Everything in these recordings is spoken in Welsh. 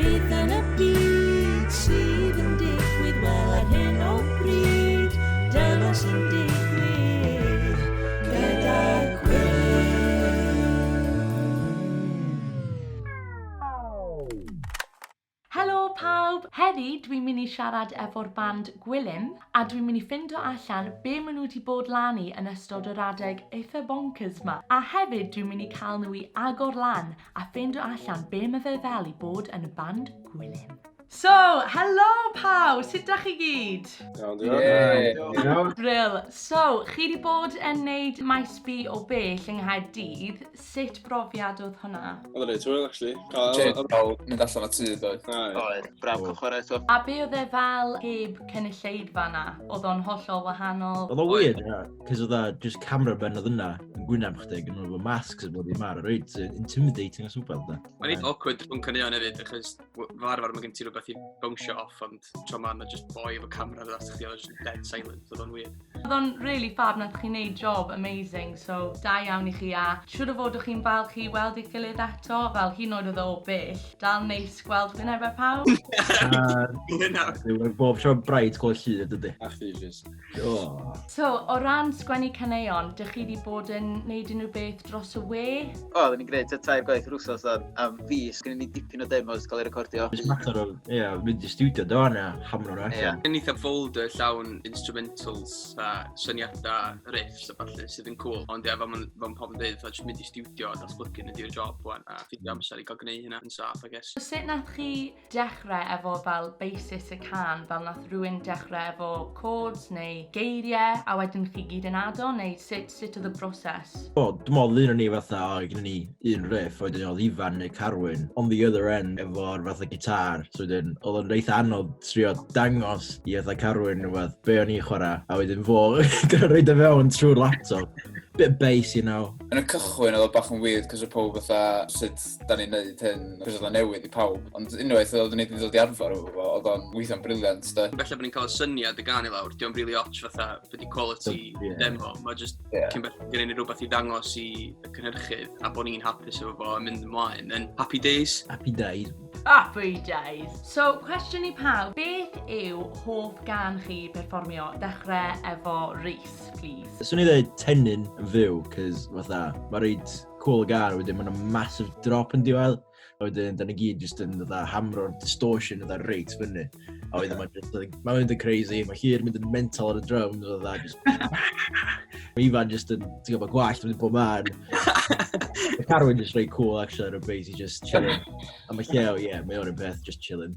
Beth yn y byd sydd yn digwydd wel ar hyn o bryd dyna sy'n digwydd gyda'r Helo pawb! Heddi dwi'n mynd i siarad efo'r band Gwilym a dwi'n mynd i ffindo allan be maen nhw wedi bod lan i yn ystod yr adeg eitha bonkers ma a hefyd dwi'n mynd i cael nhw i agor lan A ffeindio allan be mae fe fel i bod yn y band Gwilym. So, helo pawb, sut da chi gyd? Iawn, diolch. Brill. So, chi wedi bod yn neud maes B o bell yng Nghaerdydd, sut brofiad oedd hwnna? Oedd yn reit hwyl, actually. Jade, cael mynd allan o tŷ, doedd? Oedd, braf cael chwarae eto. A be oedd e fel heb cynulleidfa na? Oedd o'n hollol wahanol? Oedd o'n weird, ie. Cos oedd a just camera ben oedd yna yn gwynaf chdi, gyda nhw'n masks yn bod i mar, reit, intimidating as wbeth da. Mae'n eitha awkward rhwng caneuon hefyd, achos fel arfer mae gen ti rhywbeth i bownsio off, ond tro ma yna just boi efo camera dda sy'ch chi, oedd just dead silent, oedd o'n weird. Oedd o'n really fab, nath chi'n neud job amazing, so da iawn i chi a siwr o fod o'ch chi'n falch i weld eich gilydd eto, fel hyn oed oedd o bell, dal neis gweld fi'n efo pawb. Gwynaf. Bob tro bright gweld llyd ydy. A chdi, Jess. Oh. So, o ran sgwennu caneuon, dych chi wedi bod yn neud unrhyw beth dros y we? O, oh, ni'n gwneud tair gwaith yr wrthos am, am fus. Gwneud ni dipyn o demos cael ei recordio. It's matter of, ie, yeah, mynd i studio do yna, hamro'n allan. Yeah. Yn eitha folder llawn instrumentals a syniadau, riffs a falle sydd yn cool. Ond ie, fel mae'n pobl yn dweud, fatha jyst mynd i studio a datblygu yn ydy'r job wan. A ffidio amser i gael gwneud hynna yn saff, I guess. Sut nath chi dechrau efo fel basis y can, fel nath rhywun dechrau efo chords neu geiriau, a wedyn chi gyd yn ado, neu sut, sut oedd y broses? O, dwi'n meddwl un o'n ni fatha, o, gyda ni un riff, a wedyn oedd Ifan neu Carwyn on the other end efo'r fatha gitar, so wedyn oedd o'n reitha anodd trio dangos i fatha Carwyn neu beth, be o'n i'n chwarae, a wedyn fo, gyda reid o fewn trwy'r laptop, bit bass, you know. Yn y cychwyn oedd o bach yn weird, cos oedd pob fatha, sut da ni'n neud hyn, rhywbeth oedd newydd i pawb. Ond unwaith oedd ni wedi dod i arfer o fo, oedd o'n weithio'n briliant, da. Felly bod ni'n cael y syniad y gan i lawr, diolch rili ots fatha byddi quality yeah. demo. Mae jyst yeah. cyn beth gen i ni rhywbeth i ddangos i y cynhyrchydd a bod ni'n hapus efo fo a mynd ymlaen. Yn happy days. Happy days. Happy days. So, cwestiwn i pawb, beth yw hoff gan chi perfformio? Dechrau efo Rhys, please. Swn i ddweud tenyn yn fyw, cys fatha, mae rhaid cool gar, wedyn mae'n massive drop yn diwedd, a wedyn da ni gyd jyst yn dda hamro'r distortion yn reit fyny. A wedyn mae'n just, mae'n mynd yn crazy, mae Llyr mynd yn mental ar y drums, a dda just... mae Ifan jyst yn, ti'n gwybod, gwallt yn mynd bob man. Mae Carwyn jyst reit cool, actually, ar y bass, i just chillin'. A mae Lleo, ie, yeah, mae o'r un peth, just chillin'.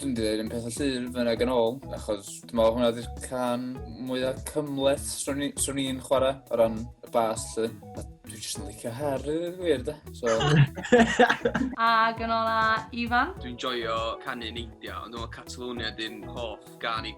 Dwi'n dweud yn peth o llyr fyna ag yn ôl, achos dwi'n meddwl hwnna ydy'r can mwyaf cymleth swn i'n chwarae o ran y bas lly. A dwi'n jyst yn licio her i ddweud gwir da. So... ag yn ôl a Ifan? Dwi'n joio canu neidio, ond dwi'n meddwl Catalonia ydy'n hoff gan i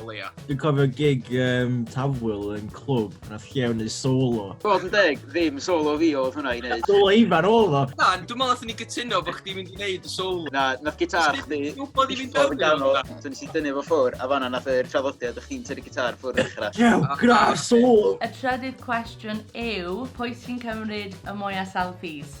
o leia. Dwi'n cofio gig um, Tafwyl yn clwb, na lle o'n ei solo. Bod yn deg, ddim solo fi oedd hwnna i wneud. Solo Ifan oedd o. Na, dwi'n meddwl nath ni gytuno bod chdi'n mynd i wneud y solo. Na, nath gitar chdi... Dwi'n bod i fynd yn ganol. Dwi'n nes i dynnu fo ffwr, a fanna nath yr traddodiad o'ch chi'n tynnu gitar ffwr ddechrau. Cew, gra'r solo! Y trydydd cwestiwn yw, pwy sy'n cymryd y mwyaf selfies?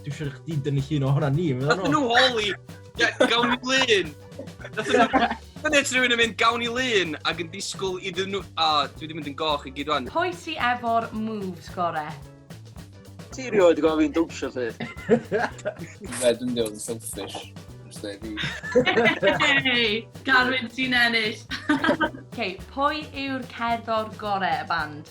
Dwi'n siŵr chdi dynnu llun o hwnna ni. Nath nhw holi, gawn i lun. Nath nhw... Dyna ti rhywun yn mynd gawn i lun ac yn disgwyl i ddyn nhw... A, oh, dwi wedi mynd yn goch i gyd rwan. Pwy sy efo'r moves gore? Ti rioed wedi gofyn dwnsio lle? Fe dwi'n dweud yn selfish. Hey! Garwyn, ti'n ennill! okay, pwy yw'r cerddor gore y band?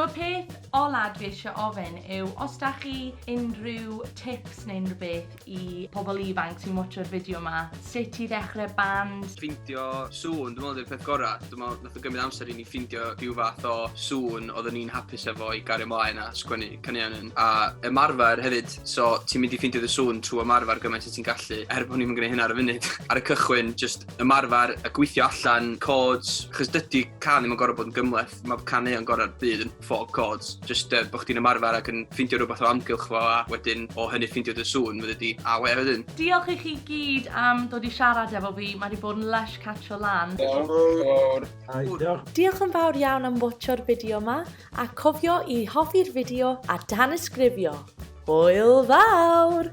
Y peth ola dwi eisiau ofyn yw os da chi unrhyw tips neu unrhyw beth i pobl ifanc sy'n watcho'r fideo yma, sut i ddechrau band? Ffeindio sŵn, dwi'n meddwl ydy'r peth gorau. Dwi'n meddwl wnaeth o gymryd amser i ni ffeindio rhyw fath o sŵn oeddwn ni'n hapus efo i gario mlaen a sgwennu caneuon yn. A ymarfer hefyd, so ti'n mynd i ffeindio dy sŵn trwy ymarfer gymaint â ti'n gallu, er bod ni'm yn gwneud hynna ar y funud. Ar y cychwyn, jyst ymarfer a gweithio allan chords, achos dydy can ddim yn gorfod bod yn gymleth, mae can neu yn gorau'r byd yn ffog chords, jyst uh, bod chdi'n ymarfer ac yn ffindio rhywbeth o amgylch fo a wedyn o hynny ffindio dy sŵn, fydde di a we wedyn. Diolch i chi gyd am dod i siarad efo fi, mae wedi bod yn lush catch o lan. Diolch yn fawr iawn am watcho'r fideo ma, a cofio i hoffi'r fideo a danysgrifio! Hwyl fawr!